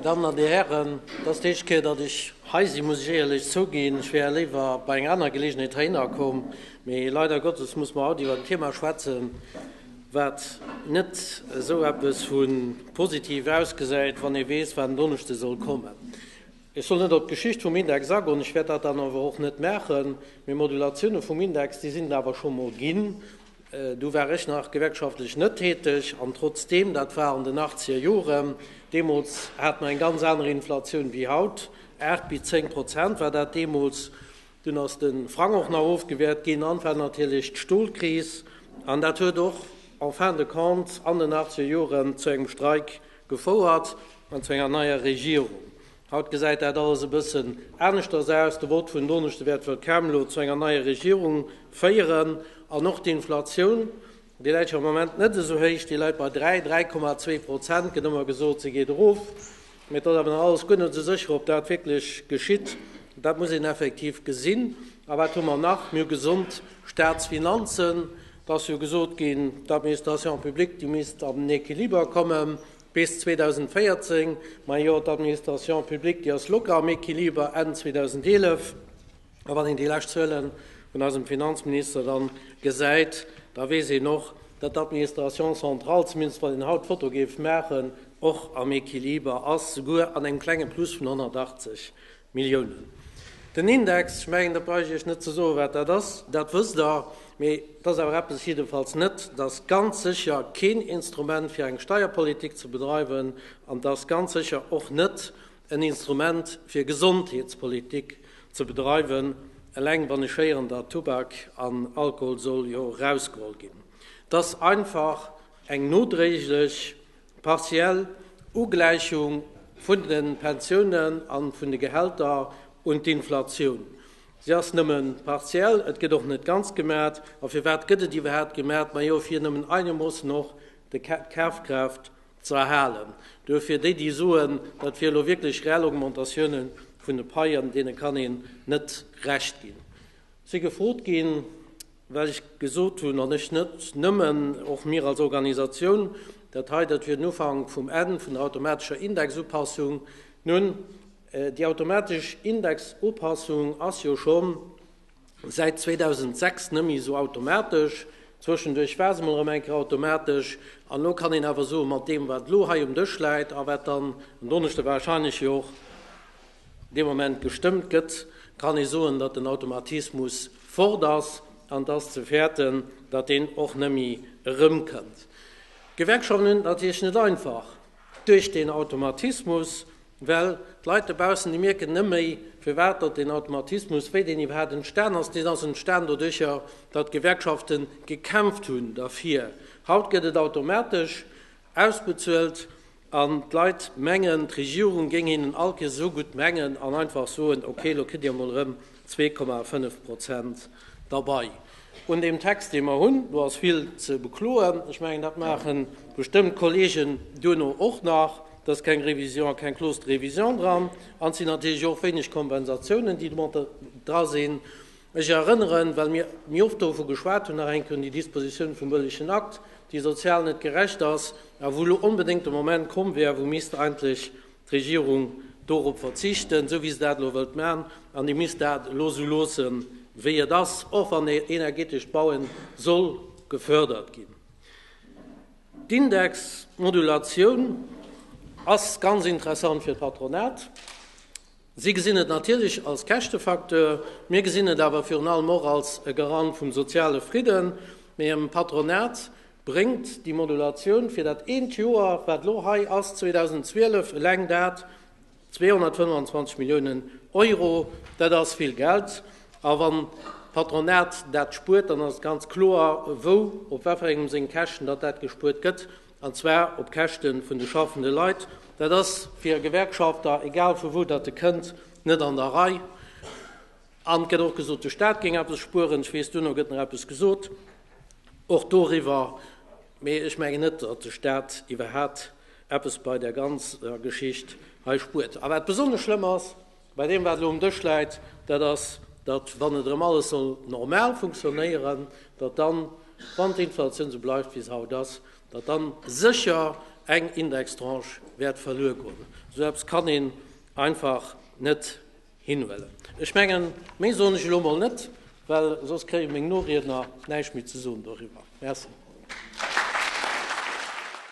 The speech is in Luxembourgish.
Dammen an Dir Hären, dat ass d'éischt Kéier, datt ech hei sinn, muss ech éierlech zouginn. Ech wär léiwer bei enger aner Geleegenheet heihinner komm, mee leider Gottes muss mer haut iwwer en Thema schwätzen, wat net esou eppes vu positiv ausgesäit, wann ee weess, wat en Donneschde soll kommen. Ech soll net op d'Geschicht vum Index agoen, ech wäert dat dann awer och net maachen, mee Modulatioune vum Index, déi sinn et awer scho mol ginn, Do war ech nach gewerkschaftlech net täteg, an trotzdeem, dat war an den achtzeger Joren, deemools hat mer eng ganz aner Inflatioun wéi haut, aacht bis zéng Prozent war dat deemools, dunn ass de Frang och nach ofgewäert ginn an et war natierlech d'Stolkris an dat huet och en fin de compte an den achtzeger Joren zu engem Streik gefouert an zu enger neier Regierung. Haut gesäit dat alles e bëssen aneschters aus. De Vott vun Donneschde wäert wuel kaum elo zu enger neier Regierung féieren. An och d'Inflatioun, déi läit jo am Moment net esou héich, déi läit bei 3, 3,2 Prozent, gëtt ëmmer gesot, se geet erof. Mee et ass awer nach alles guer net esou sécher, ob dat wierklech geschitt. Dat muss een effektiv gesinn. A wat hu mer nach? Mir hu gesond Staatsfinanzen. Et ass jo gesot ginn, d'Administration publique, déi misst an den Equiliber kommen. Bis 2014, majo d'Administration publique, déi ass locker am Equiliber Enn 2011. A wann een déi lescht Zuelen vun eisem Finanzminister da gesäit, da weess een och, datt d'Administration centrale, zumindest wann een haut d'Foto géif maachen, och am Equiliber ass, souguer an engem klenge Plus vun 180 Milliounen. Den Index, ech mengen, da brauch ech Iech net ze soen, wat dat ass, dat wësst Der. Mee et ass awer eppes, jiddefalls net, et ass ganz sécher keen Instrument, fir eng Steierpolitik ze bedreiwen, an et ass ganz sécher och net en Instrument, fir Gesondheetspolitik ze bedreiwen, eleng wann ech héieren, datt Tubak an Alkohol soll jo erausgeholl ginn. Et ass einfach eng nodréiglech D'partiell Ugläichung vun de Pensiounen a vun de Gehälter un d'Inflatioun, se ass nëmme partiell, et gëtt och net ganz gemat. A firwat gëtt et iwwerhaapt gemat? Majo fir nëmmen einemoossen och d'Kafkraaft ze erhalen. Duerfir déi déi soen, dat wier elo wierklech rell Augmentatioune vun de Paien, deene kann een net Recht ginn. Si gefrot ginn, wat ech gesot hunn, an ech net nëmmen, och mir als Organisatioun, dat hei, dat wier den Ufank vum Enn vun der automatescher Indexupassung. Nun, déi automatesch Indexupassung ass jo scho säit 2006 net méi esou automatesch. Zwëschenduerch war se emol erëm eng Kéier automatesch. An elo kann een awer soen, mat deem, wat elo hei um Dësch läit a wat dann en Donneschde wahrscheinlech jo och dee Moment gestëmmt gëtt, kann ee soen, datt den Automatismus fort ass, an et ass ze fäerten, datt deen och nëmme erëmkënnt. D'Gewerkschaften hunn et natierlech net einfach duerch deen Automatismus, well d'Leit dobaussen, déi mierken net méi, firwat datt deen Automatismus, wéi deen iwwerhaapt entstan ass. Deen ass entstan doduercher, datt d'Gewerkschafte gekämpft hunn derfir. Haut gëtt et automatesch ausbezuelt. An d'Leit mengen, d'Regierung géing hinnen all Kees esou gutt mengen an einfach soen, okay, elo kritt Dir emol erëm zwee Komma fënnef Prozent derbei. Un deem Text, dee mer hunn, do ass vill ze bekloen. Ech mengen, dat maache bestëmmt d'Kollegen duerno och nach. Do ass keng Révision a keng Clause de révision dran. An et sinn natierlech och wéineg Kompensatiounen, déi domadder dra sinn. Ech erënneren, well mir och dovu geschwat hunn, nach eng Kéier un déi Dispositioun vum Wëllegen Akt, déi sozial net gerecht ass a wou elo onbedéngt de Moment komm wär, wou misst eigentlech d'Regierung dorop verzichten, esou wéi se dat elo wëllt maachen, an déi misst dat elo esou loosse wéi et ass, och wann e energetescht Baue soll gefördert ginn. D'Indexmodulatioun ass ganz interessant fir d'Patronat. Si gesinn et natierlech als Käschtefacteur, mir gesinn et awer virun allem och als e Garant vum soziale Fridden. Mee dem Patronat bréngt déi Modulatioun fir dat eent Joer, wat elo hei ass, 2012, eleng dat 225 Milliounen Euro. Dat ass vill Geld. A wann d'Patronat dat spuert, dann ass et ganz kloer, wou, op wat fir engem seng Käschten datt dat gespuert gëtt. an zwar op Käschte vun de schaffende Leit. Dat ass fir e Gewerkschafter, egal vu wou datt e kënnt, net an der Rei. An et gëtt och gesot, de Staat géing eppes spueren. Ech weess, duerno gëtt nach eppes gesot, och doriwwer. Mee ech mengen net, datt de Staat iwwerhaapt eppes bei där ganzer Geschicht hei spuert. A wat besonnesch schlëmm ass, Bei deem, wat elo um Dësch läit, dat ass, datt, wann et erëm alles soll normal funktionéieren, datt dann, wann d'Inflatioun esou bleift, wéi se haut ass, datt dann sécher eng Indextranche wäert verluer goen. Esou eppes kann een einfach net hinhuelen. Ech mengen, méi soen ech elo emol net, well soss kréie meng Noriedner näischt méi ze soen doriwwer. Merci.